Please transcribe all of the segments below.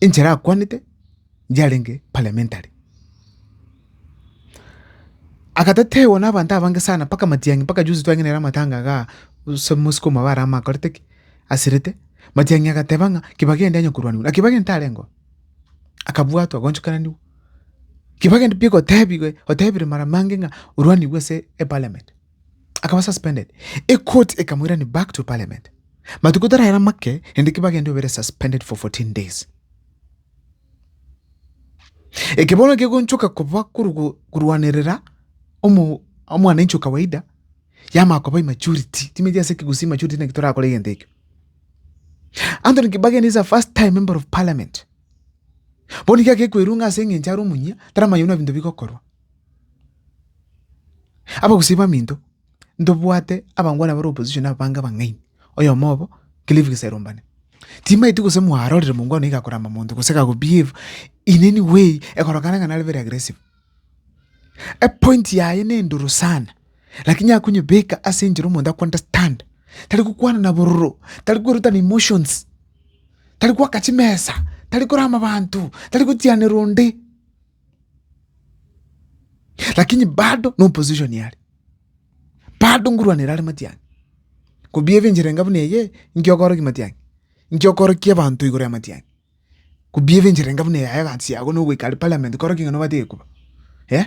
enchera akwanete inche arenge parliamentary. Agatetewa na abanto abange sana mpaka matiang'i mpaka juzi twang'ina ere amatanga igaa ase mosukuma bare ama akorete ki? Asirete. Matiang'i agateba ng'a kibaki ende anya korwaniwa na kibaki ntarengeo. Akabwatwa agonchokananiwa. Kibaki ende pi gotebiwe otebire mara mange ng'a orwaniwe ase eparliament. akaba suspended, ekoti ekamoirani back to parliament matuko taraera make ende kibagende obere suspended for 14 days. Eke bono kegonchoka koba korwanerera omwananchi okawaida yama koba immaturity timeti ase kigusi immaturity naki torakora egento ekio Anthony Kibageni is a first time member of parliament bono iga gekwerunga ase eng'encho are omunyia taramanya buna binto bigokorwa Abagusii baminto, ntobwate abangwana bare opposition aba bange abang'aini, oyomo obo Cliff Giserumbane. Timaeti gose mwarorire mongwana oyio gakoramba monto gose gago behave in any way ekorokana ng'a nare very aggressive. Epoint yaye na endoro sana, lakini yakonyebeka ase enchera omonto ako understand, tari gokwana na bororo, tari kwerutana emotions, tari goaka chimesa, tari korama abanto, tari gotianera onde. Lakini bado no opposition yare. Bado ngurwanera are matiangi. Kobia ebenchera enga buna eye inki okoroki matiangi. Inki okoroki abanto igoro ya matiangi. Kobia ebenchera enga buna eye aye gansi yago no goika are parliament koroki ng'a no bate gekuba. Eh.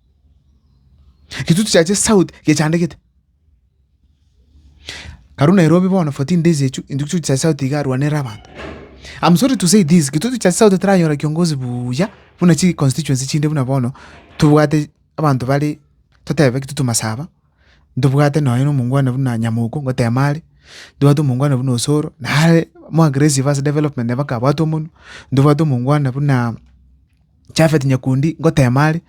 Egetutu kiacha esauti gechandegete. Karu Nairobi bono fourteen days echwe egetutu kiacha esauti iga arwanere abanto. I'm sorry to say this egetutu kiacha esauti taranyora kiongozi buya buna chi constituency chinde buna bono tobwate abanto bare totebe egetutu Masaba, ntobwate nonye na omongwana buna Nyamoko ngotema are, ntobwate omongwana buna Osoro nare more aggressive ase development nabo akabwate omonwe, ntobwate omongwana buna. Jafeti nyakundi ngoteema are,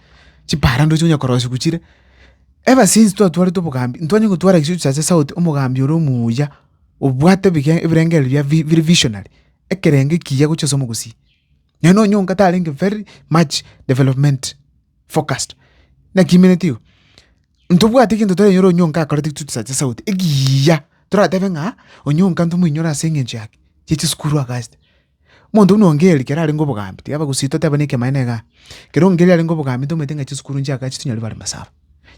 chipaarano echi onya korosigwa chire, ebasinsi twatwarete obogambi ntwanye gotwara egesio chiaye sauti omogambi ore omuya obwate ebige ebirengereri bia vi bire visionary, ekerengo ekiya gochia ase omogusii. Naende nonya onga tarenge very much development focused, naki aimeneti igo. Ntobwate egento torenyore onya onga akorete egesio chisacha sauti ekiiya, toratebe ng'a onya onga ntomoinyore ase eng'encho yaki, chia chisukuru agachete. Omonto buna Ongeri, kera arenge obogambi, tiga bagusii toteba nekemanyererio na egati. Kera Ongeri arenge obogambi, ntomanyete ng'a chisukuru nchiake achitunye aria bare masaba.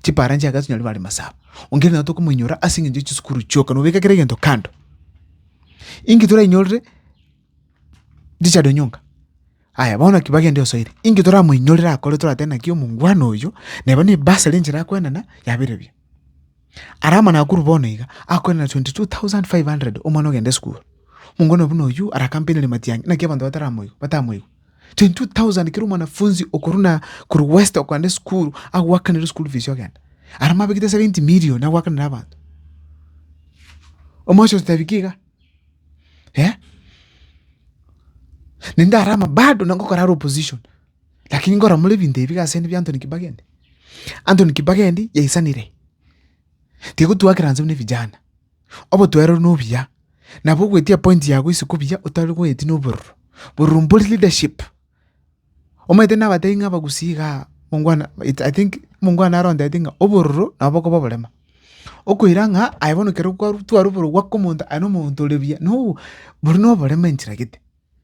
Chipara nchiake atunye aria bare masaba. Ongeri nabo tokomoinyora ase eng'encho ya chisukuru chioka, nobeka kera egento kando. Inki torainyorire Richard Onyonga? Aya, bono naki bagende osoire. Inki toramoinyorire akore toratebe naki omongwana oyo, neba ne bursary enchera akoenana, yabeire buya. Ara amana akorwa bono iga, akorwa na 22,500 omwana ogenda esukuru. Monga one buna oyio ara akampeinire matiang'i, naki abanto bataramoigwe, batamoigwe. 22,000 kera omwanafunzi okorwa na, korwa west okogenda esukuru, agoakanere school fees ogenda. Ara mwabekete 70 million agoakanera abanto. Omosio ototebi ki iga? Naende ara ama bado nagokora are opposition. Lakini ngoramore ebinto ebi iga asende biAnthony Kibageni. Anthony Kibageni yaisanire, tigotuakera inse buna evijana, obotuerero na obuya, nabo ogoetia point yago isiko buya otari goeti na obororo, bororo mbori leadership. Omanyete na abatebi ng'a abagusii igaa mongwana it I think mongwana arontete ng'a obororo nabo bokoba oborema, okoira ng'a aye bono ekero kwaru twarwa obororo gwaka omonto aye na omonto ore buya no boria na oborema enchera gete.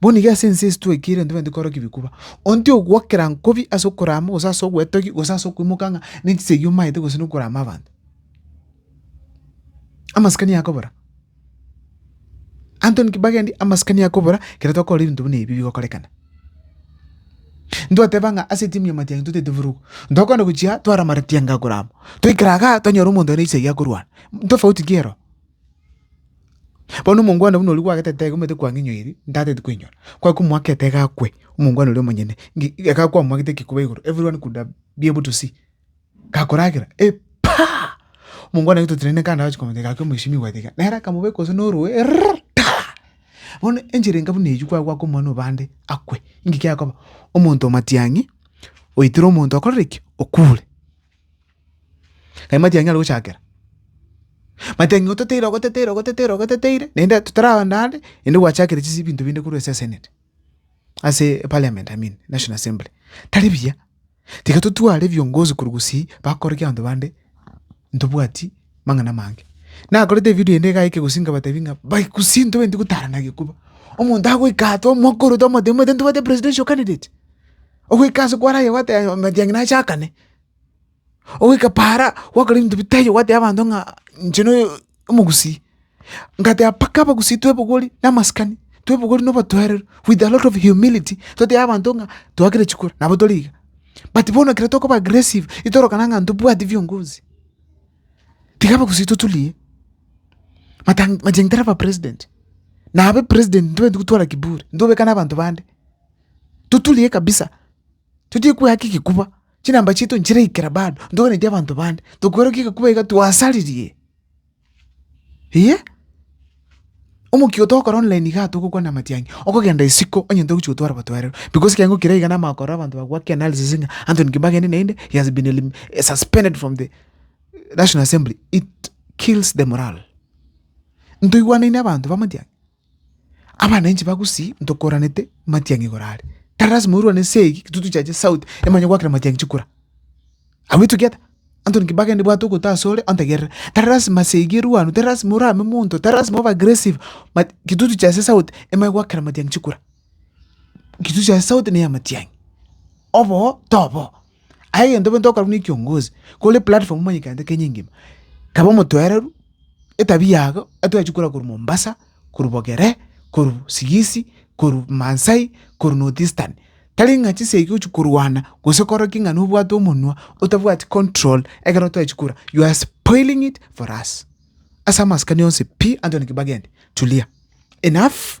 Bono iga ase ense ase twaikeire ntobwenereti korokia bikuba. Ontio ogokera nkobi ase okorama gose ase ogwetogia gose ase okoimoka ng'a ne chisegi omaete gose na okorama abanto. Amasikani akobora, anto nki bagendi amasikani akobora ekero tokora ebinto buna ebi bigokorekana. Ntwateba ng'a ase etimu ya matiang'i totaete vurugu, ntokwana gochia twara amatiang'i akorama, twaikara igaa twanyora omonto one chisegi akorwana, ntofauti ki ero? Bono omongwana buna oria gwagete etego omanyete kwang'inyoiri ntateti koinyora, kwaki komoaka etego akwe omongwana oria omonyene nki ekero kwamoakete ekekuba igoro every one could have be able to see gakoragera epaah! Omongwana oria totireti naende agochia komanya gaki omweshimiwa tiga nere akamobeka gose norue errrrr taa! Bono enchera enka buna eywo kwagwaka omwana obande akwe, inki kiakoba? Omonto omatiang'i oitire omonto okorire ki? Okure. Aye mati anyare gochakera, mati ang'e oteteire ogoteteire ogoteteire ogoteteire naende totaragenda ande naende gwachakire chisi ebinto binde korwa ase esenate, ase eparliament I mean, national assembly, tari buya. Tiga totware ebiongozi korwa gusii bakore ekio abanto bande ntobwati mang'ana amange. Nakorete evidio ende iga eke gusii nkabatebi ng'a bai gusii ntobwenereti gotarana gekoba, omonto agoika aa twamwakora twamotebia omanyete ntobwate presidential candidate? Ogoika ase kware aye gwateba mati ang'e nachakane. Ogoika paara gwakora ebinto bitaiyo gwatebia abanto ng'a inche noyo omogusii, ngateba mpaka abagusii twebogori na amasikani, twebogori na obotoereru with a lot of humility, totebe abanto ng'a twakire chikura nabo tori iga. But bono ekero tokoba aggressive itorokana ng'a ntobwati biongozi, tiga abagusii totulie, matan machine tari aba president, nabe president ntobwenereti gotwara kiburi, ntobekane abanto bande, toturie kabisa. totige kwehaka egekuba, chinamba chiaito nchiraikera bado, ntoganetie abanto bande, tokwerokia egekuba iga twasaririe. Iyee, omokia oto ogokora online igaa togokwana amatiang'i, okogenda isiko onye ntogochi gotwara batwarero because ekeango keria iga namanya korora abanto bagwake analysis ng'a Anthony Kimbe agende naende he has been elim suspended from the National Assembly, it kills the morale. Ntoigwanaine abanto b'amatiang'i. Abana inche bagusii ntokoranete matiang'i igoro are. Tari lasima orwane esegi intwe tochiache sauti emo onye gwakire matiang'i chikura. Abwo etogia ata? Antony Kibaki aende bwate ogote asore ontegerere. Tari lasima esegi erwanwe, tari lasima orame monto, tari lasima obe aggressive but intwe tochiache sauti emo onye gwakire matiang'i chikura. Ngichusa ase sauti na ey'amatiang'i, obo oo tobo oo. Aye egento bwenete okorwa buna ekiongozi, kore platform omanyekete Kenya engima, kaba omotwereru, etabia yago etwachia korwa korwa Mombasa, korwa Bogere, korwa Sigisi, korwa Maasai, korwa North Eastern, tari ng'a chisegi ogochia korwana gose kore ki ng'a nobwate omonwa otabwati control ekero twachia korwa you are spoiling it for us. Ase amasikani onsi pi anto naki bagende, tulia, enough.